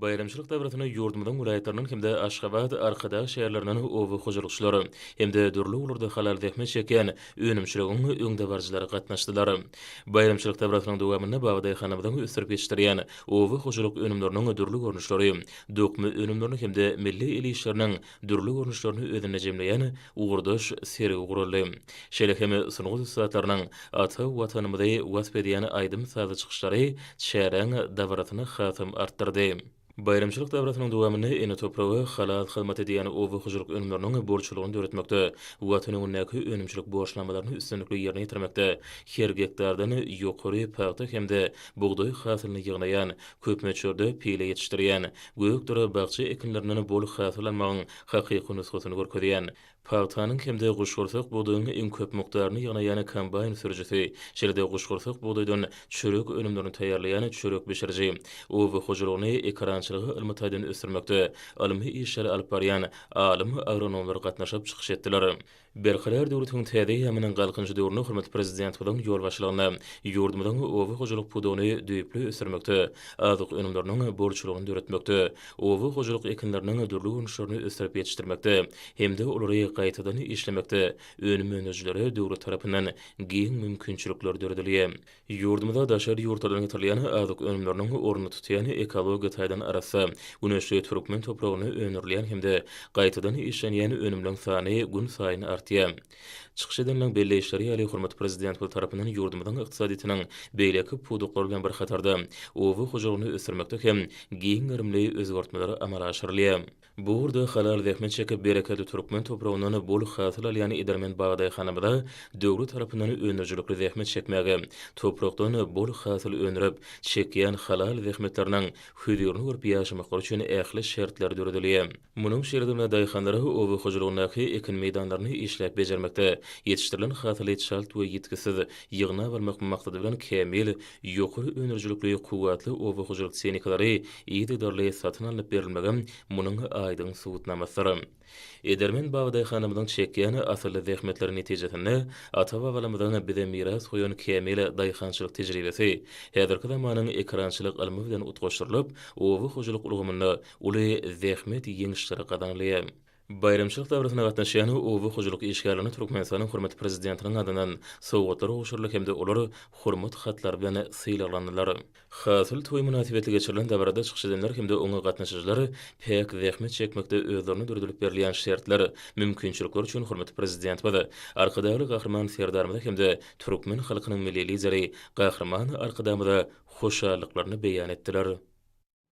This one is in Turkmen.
Baýramçylyk dabarasynda ýurdumyzyň welaýatlaryndan hem-de Aşgabat, Arkadag şäherlerinden oba hojalykçylary hem-de dürli ugurlarda halal zähmet çekýän önümçiligiň öňdebaryjylary gatnaşdylar. Baýramçylyk dabarasynyň dowamynda Baba daýhanymyzyň ösdürip ýetişdirýän oba hojalyk önümleriniň dürli görnüşleri, dokma önümlerini hem-de milli el işleriniň dürli görnüşlerini özünde jemleýän ugurdaş sergi guraldy. Şeýle hem sungat ussatlarynyň ata Watanymyzy wasp edýän aýdym-sazly çykyşlary çäräň dabarasyny hasam artdyrdy. Baýramçylyk dabarasynyň dowamynda ene topraga halal hyzmat edýän oba hojalyk önümleriniň bolçulygyny döretmekde, Watan öňündäki önümçilik borçnamalaryny üstünlikli ýerine ýetirmekde, her gektardan ýokary pagta hem-de bugdaý hasylyny ýygnaýan Köp möçberde pile ýetişdirýän, gök-dura bakja ekinlerinden bol hasyl almagyň hakyky nusgasyny görkezýän, pagtanyň hem-de guşgursak bugdaýyň iň köp mukdaryny ýygnaýan kombaýn sürüjisi, şeýle-de guşgursak bugdaýdan çörek önümlerini taýýarlaýan çörek bişiriji, oba hojalygyny ekerançylygy ylmy taýdan ösdürmekde ylmy işleri alyp barýan alym-agronomlar gatnaşyp çykyş etdiler. Berkarar döwletiň täze eýýamynyň Galkynyş döwründe hormatly Prezidentimiziň ýolbaşçylygynda ýurdumyzyň oba hojalyk pudagyny düýpli ösdürmekde, azyk önümleriniň bolçulygyny döretmekde, oba hojalyk ekinleriniň dürli görnüşlerini ösdürip ýetişdirmekde hem-de olary gaýtadan işlemekde önüm öndürijilere döwlet tarapyndan giň mümkinçilikler döredilýär. Ýurdumyzda daşary ýurtlardan getirilýän azyk önümleriniň ornuny tutýan ekologiýa taýdan arassa, güneşli türkmen topragynda öndürilýän hem-de gaýtadan işlenýän önümleň sany günsaýyn artýar. Çykyş edenleň belleýişleri ýaly, hormatly Prezidentimiz tarapyndan ýurdumyzyň ykdysadyýetiniň beýleki pudaklary bilen bir hatarda, oba hojalygyny ösdürmekde hem giň gerimli özgertmeler amala aşyrylýar. Bu ugurda halal zähmet çekip, bereketli türkmen topragyndan bol hasyl alýan edermen bugdaýhanamyza döwlet tarapyndan öndürijilikli zähmet çekmäge, toprakdan bol hasyl öndürip, çekýän halal zähmetleriniň hüzirini görüp ýaşamaklary üçin ähli şertler döredilýär. Munuň şertinde daýhanlara oba hojalygyndaky ekin meýdanlaryny işläp bejermekde, ýetişdirilen hasyly çalt we ýitgisiz ýygnap almak maksady bilen kämil Ýokary öndürijilikli kuwwatly oba hojalyk tehnikalary yzygiderli satyn alnyp berilmegem munuň aýdyň subutnamasydyr. Edermen babadaýhanymyzyň çekýän asylly zähmetleri netijesinde ata-babalarymyzyň bize miras goýan kämil daýhançylyk tejribesi häzirki zamanyň ekerançylyk ylmy bilen utgaşdyrylyp, oba hojalyk ulgamynda uly zähmet ýeňişleri gazanylýar. Baýramçylyk dabarasyna gatnaşýan oba hojalyk işgärlerine Türkmenistanyň hormatly Prezidentiniň adyndan sowgatlar gowşuryldy hem-de olar Hormat hatlary bilen sylaglandylar. Hasyl toýy mynasybetli geçirilen dabarada çykyş edenler hem-de oňa gatnaşyjylar päk zähmet çekmekde özlerine döredilip berilýän şertler, mümkinçilikler üçin hormatly Prezidentimize, Arkadagly Gahryman Serdarymyza hem-de türkmen halkynyň Milli Lideri Gahryman Arkadagymyza hoşallyklaryny beýan etdiler.